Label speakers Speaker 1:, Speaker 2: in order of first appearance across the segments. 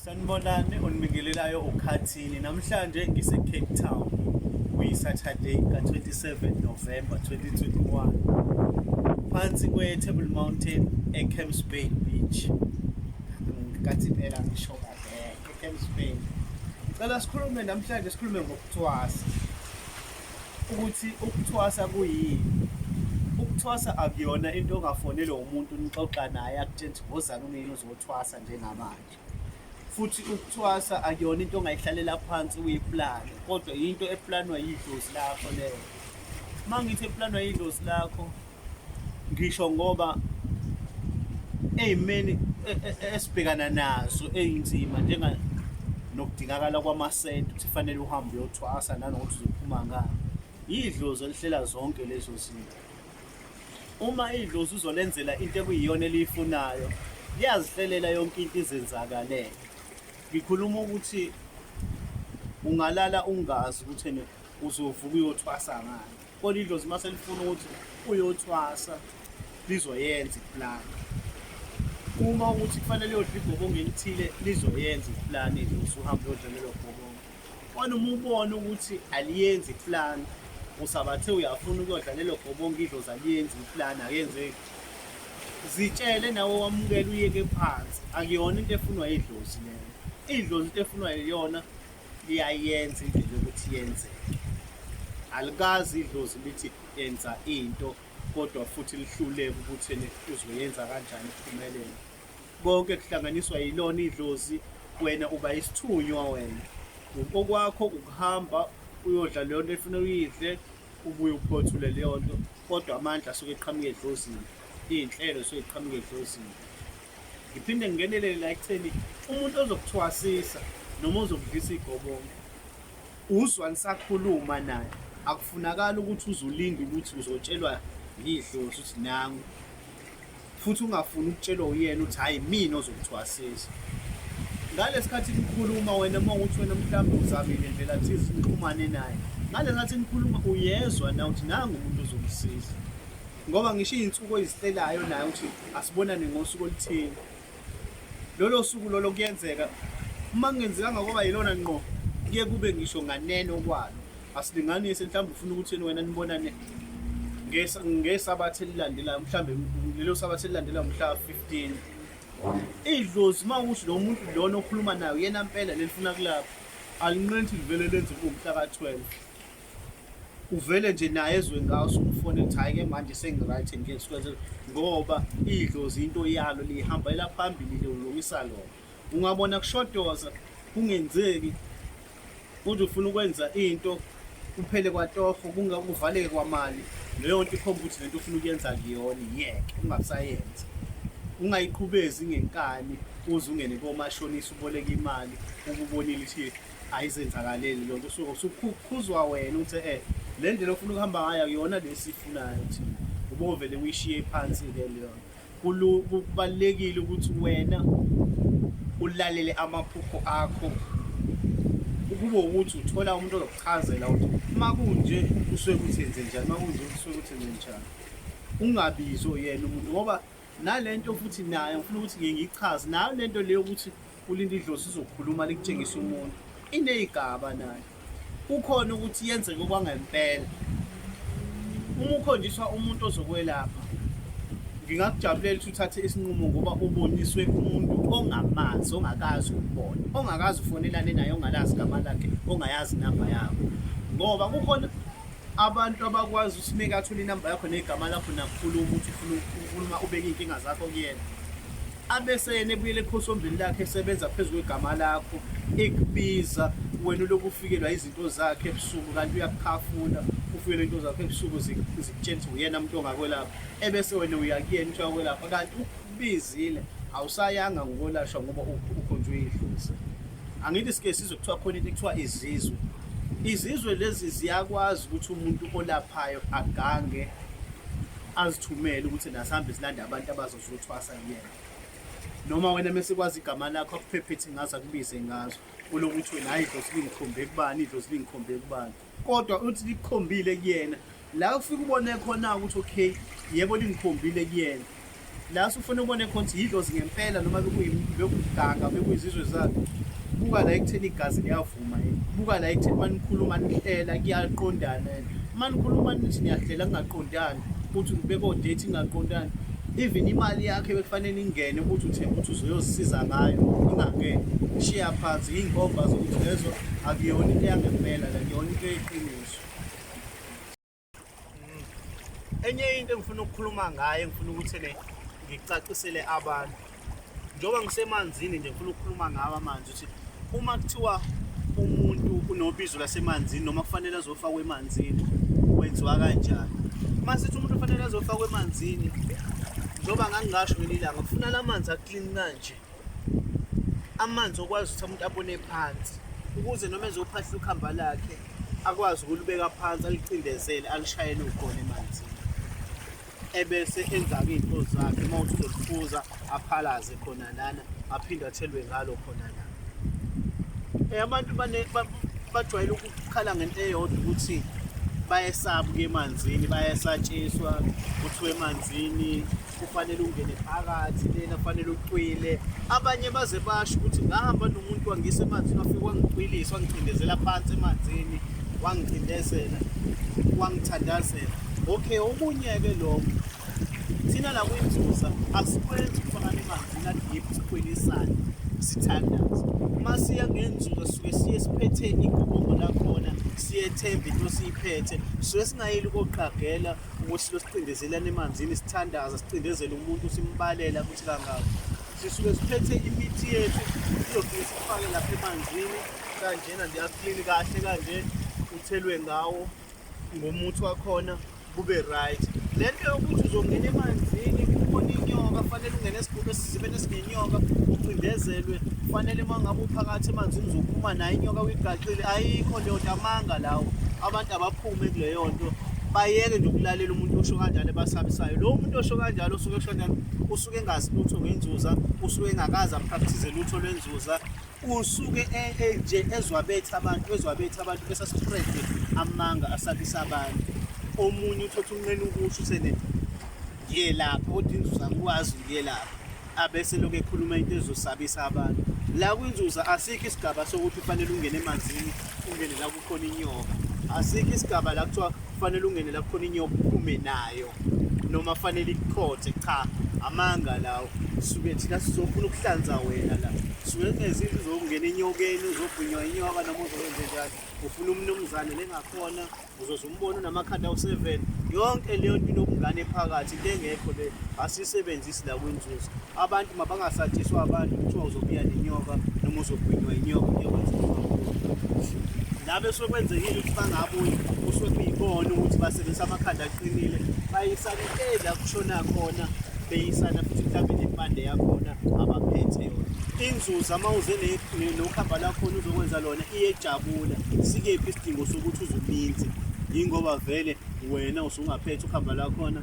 Speaker 1: Sanibonani onibingelelayo ukhathini namhlanje ngise Cape Town kuyi Saturday ka 27 November 2021 phansi kwe Table Mountain e Camps Bay Beach ngathi phela ngisho kahle e Camps Bay ngicela sikhulume namhlanje sikhulume ngokuthwasa ukuthi ukuthwasa kuyini ukuthwasa akuyona into ongafonelwa umuntu nixoxa naye akutshela ukuthi ngozani umyeni uzothwasa njengamanje futhi ukuthwasa akuyona into ongayihlalela phansi uyiplane kodwa yinto eplanwa yidlozi lakho leyo uma ngithi eplanwa yidlozi lakho ngisho ngoba ey'meni e, e, e, esibhekana nazo ey'nzima njenga nokudingakala kwamasenti ukuthi fanele uhambe uyothwasa nanokuthi uzophuma ngani yidlozi elihlela zonke lezo zinto Uma idlozi uzolenzela into ekuyiyona eliyifunayo, liyazihlelela yonke into izenzakalele. Ngikhuluma ukuthi ungalala ungazi ukuthi ene uzovuka uyothwasa ngani. Kodwa idlozi uma selifuna ukuthi uyothwasa lizoyenza iplan. Uma ukuthi kufanele uyodla igobongo elithile lizoyenza iplan idlozi uhambe uyodla lelo gobongo. Wena uma ubona ukuthi aliyenzi ipulani usabathe uyafuna ukuyodla lelo gobonga idlozi aliyenzi ipulani akenzeki zitshele nawe wamukela uyeke phansi akuyona into efunwa idlozi leyo idlozi into efunwa yiyona liyayenza indlela yokuthi yenzeke alikazi idlozi lithi yenza into kodwa futhi lihluleke ukuthi uzoyenza kanjani iphumelele Konke kuhlanganiswa yilona idlozi wena uba isithunywa wena. Okwakho ukuhamba uyodla leyo nto efuna uyidle ubuye uphothule leyo nto kodwa amandla asuke eqhamuke edlozini iy'nhlelo suke eqhamuke edlozini ngiphinde ngingenelele la ekutheni umuntu ozokuthwasisa noma ozokudlisa igobongo uzwa nisakhuluma naye akufunakali ukuthi uzulinde ukuthi uzotshelwa yidlozi ukuthi nangu futhi ungafuni ukutshelwa uyena ukuthi hhayi mina ozokuthwasisa ngalesikhathi nikhuluma wena uma ukuthi wena mhlawumbe uzamile ndlela thize nixhumane naye ngalekhathi nikhuluma uyezwa na ukuthi nangu umuntu ozomsiza ngoba ngisho iy'nsuku oyizitelayo naye ukuthi asibonane ngosuku oluthile lolo suku lolo kuyenzeka uma kungenzekanga kwaba yilona ngqo kuye kube ngisho nganeno kwalo asilinganise mhlawumbe ufuna ukuthi yena wena nibonane ngesabatha elilandelayo mhlawumbe lelo sabatha elilandelayo mhla 15 idlozi uma ukuthi lo muntu lona okhuluma nayo yena mpela lelifuna kulapha alinqeni ukuthi livele lenze kumhla ka-12 uvele nje naye ezwe ngawo sumfone ukuthi hhayi ke manje sengi-right ngeke sikwenze ngoba idlozi into yalo liyihambalela phambili liwulungisa lona ungabona kushodoza kungenzeki uze ufuna ukwenza into kuphele kwatoho kuvaleke kwamali leyo nto ikhomba ukuthi lento ufuna ukuyenza kuyona yeke ungasayenzi ungayiqhubezi ngenkani uze ungene komashonisa uboleka imali ukubonile ukuthi ayizenzakaleli lokho usuke usukhukhuzwa wena uthi eh le ndlela ofuna ukuhamba ngayo akuyona lesifunayo thina ubovele uyishiye phansi ke leyo kubalekile ukuthi wena ulalele amaphupho akho ukube ukuthi uthola umuntu ozokuchazela ukuthi uma kunje kusuke kuthenze njani uma kunje kusuke kuthenze njani ungabizo yena umuntu ngoba nalento futhi nayo ngifuna ukuthi ngiyichaze nayo lento leyo ukuthi ulinda idlozi izokhuluma likutshengisa umuntu ineyigaba nayo kukhona ukuthi yenzeke kwangempela uma ukhonjiswa umuntu ozokwelapha ngingakujabulela ukuthi uthathe isinqumo ngoba uboniswe umuntu ongamazi ongakazi ukubona ongakazi ufonelane naye ongalazi igama lakhe ongayazi inamba yakho ngoba kukhona abantu abakwazi ukuthi meke athole inamba yakho negama lakho nakukhuluma ukuthi ufuna ukhuluma ubeke iy'nkinga zakho kuyena abeseyena ebuyela ekhosombeni lakhe esebenza phezu kwegama lakho ekubiza wena uloku ufikelwa izinto zakhe ebusuku kanti uyakukhafula ufikelwa into zakho ebusuku zikutshela ukuthi uyena muntu ongakwelapha ebese wena uyakuyena ukuthi uyakwelapha kanti ukubizile awusayanga ngokolashwa ngoba ukhonjwe idlozi angithi sike sizwe kuthiwa khona into ekuthiwa izizwe izizwe lezi ziyakwazi ukuthi umuntu olaphayo agange azithumele ukuthi nasihambe silanda abantu abazo uzothwasa kuyena noma wena mesikwazi igama lakho akuphephethi ngazo akubize ngazo kunokuthi wena hayi idlozi lingikhombe kubani idlozi lingikhombe kubani kodwa uthi likukhombile kuyena la ufike ubone khona ukuthi okay yebo lingikhombile kuyena la sufuna ubone khona ukuthi yidlozi ngempela noma bekuyimganga bekuyizizwe zakhe buka la ekutheni igazi liyafu Uma buka la ekutheni uma nikhuluma nihlela kuyaqondana and uma nikhuluma nithi niyahlela kungaqondani ukuthi ngibeka odate ingaqondani even imali yakhe bekufanele ingene ukuthi uthemba ukuthi uzoyozisiza ngayo ingangeni shiya phansi yinkomba zokuthi lezo akuyona into yangempela la kuyona into eqiniso enye into engifuna ukukhuluma ngayo engifuna ukuthi ne ngicacisele abantu njengoba ngisemanzini nje ngifuna ukukhuluma ngawo amanzi ukuthi uma kuthiwa umuntu unobizo lasemanzini noma kufanele azofakwa emanzini kwenziwa kanjani uma sithi umuntu ufanele azofakwa emanzini njengoba ngangingasho ngelinye ilanga kufuna la manzi aklini kanje amanzi okwazi ukuthi umuntu abone phansi ukuze noma ezophahla ukhamba lakhe akwazi ukulibeka phansi alicindezele alishayele ukhona emanzini ebese enza-ke iy'nto zakhe uma uthi uzolifuza aphalaze khona lana aphinde athelwe ngalo khona lana um eh, abantu bajwayele ukukhala ngento eyodwa ukuthi bayesaba ukuya emanzini bayesatshiswa kuthiwa emanzini kufanele ungene phakathi lena kufanele ucwile abanye baze basho ukuthi ngahamba nomuntu wangisa emanzini wafike wangicwilisa wangicindezela phansi emanzini wangicindezela wangithandazela okay okunye-ke lokho thina la kwinzuza asikwenzi ukufakana emanzini adip sikhwelisane sithandaze uma siya ngenzuza suke siye siphethe igubo lakhona siyethembe into siyiphethe suke singayeli koqagela ukuthi losicindezelana emanzini sithandaza sicindezele umuntu simbalela ukuthi kangaka sisuke siphethe imithi yethu sizofike sifake lapha emanzini kanjena nje aklini kahle kanje uthelwe ngawo ngomuthi wakhona kube right le nto yokuthi uzongena emanzini ubone inyoka fanele ungene esigubhu esizibeni esinenyoka ucindezelwe fanele uma ngabe uphakathi emanzini uzophuma nayo inyoka uyigaxile ayikho leyo nto amanga lawo abantu abaphu Ume kuleyo nto bayeke nje ukulalela umuntu osho kanjalo ebasabisayo lo muntu osho kanjalo osuke esho kanjalo usuke engazi lutho ngenzuza usuke engakazi apractice lutho lwenzuza usuke e, e, nje ezwa bethi abantu ezwa bethi abantu bese spread amanga asabisa abantu omunye uthatha umnqeni ukusho usene ngiye lapha kodwa inzuza ngikwazi ngiye lapha abese lokhu ekhuluma into ezosabisa abantu la kwinzuza asikho isigaba sokuthi ufanele ungene emanzini ungene la khona inyoka asikho isigaba la kuthiwa kufanele ungene la khona inyoka uphume nayo noma fanele ikukhothe cha amanga lawo suke thina sizofuna ukuhlanza wena la suke kungenza into uzokungena enyokeni uzobhunywa inyoka noma uzokwenze njani ufuna umnumzane lengakhona uzoze umbone unamakhanda awu-seven yonke leyo nto inobungane phakathi into engekho le asiyisebenzisi la kwinzuzo Abantu mabangasatshiswa abantu kuthiwa uzobuya nenyoka noma uzogwinywa inyoka kuyokwenza labe sokwenzekile ukuthi bangabuyi kusuke kuyibona ukuthi basebenzisa amakhanda aqinile bayisana intela kushona khona beyisana futhi mhlawumbe nempande yakhona abaphethe yona inzuza uma uze nokhamba lakhona uzokwenza lona iyejabula sikephi isidingo sokuthi uzuminze yingoba vele wena usungaphethe ukhamba lakhona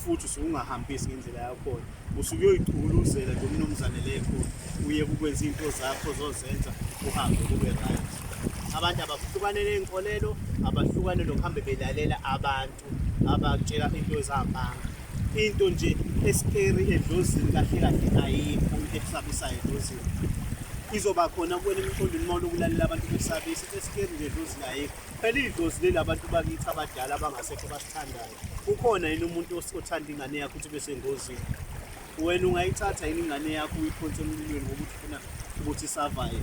Speaker 1: futhi usungahambisi ngendlela yakhona usuke uyoyichuluzela nje umnumzane lekho uye kukwenza into zakho zozenza uhambe kube right abantu abahlukane ney'nkolelo abahlukane nokuhambe belalela abantu abatshela into ezambanga into nje esikeri edlozini kahle kahle ayikho into ekusabisayo edlozini izoba khona kuwena emqondweni uma ulokulalela abantu besabisa esikeri nje edlozini ayikho Phela idlozi leli abantu bakithi abadala abangasekho basithandayo. Ukhona yini umuntu os- othanda ingane yakho ukuthi bese ngozini? Wena ungayithatha yini ingane yakho uyiphonse emlilweni ngokuthi ufuna ukuthi isavaye?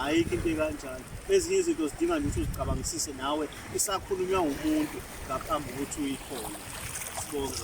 Speaker 1: Ayikho into ekanjalo. Ezinye izinto zidinga nje ukuthi uzicabangisise nawe isakhulunywa ngumuntu ngaphambi kokuthi uyikhone. Sibonge.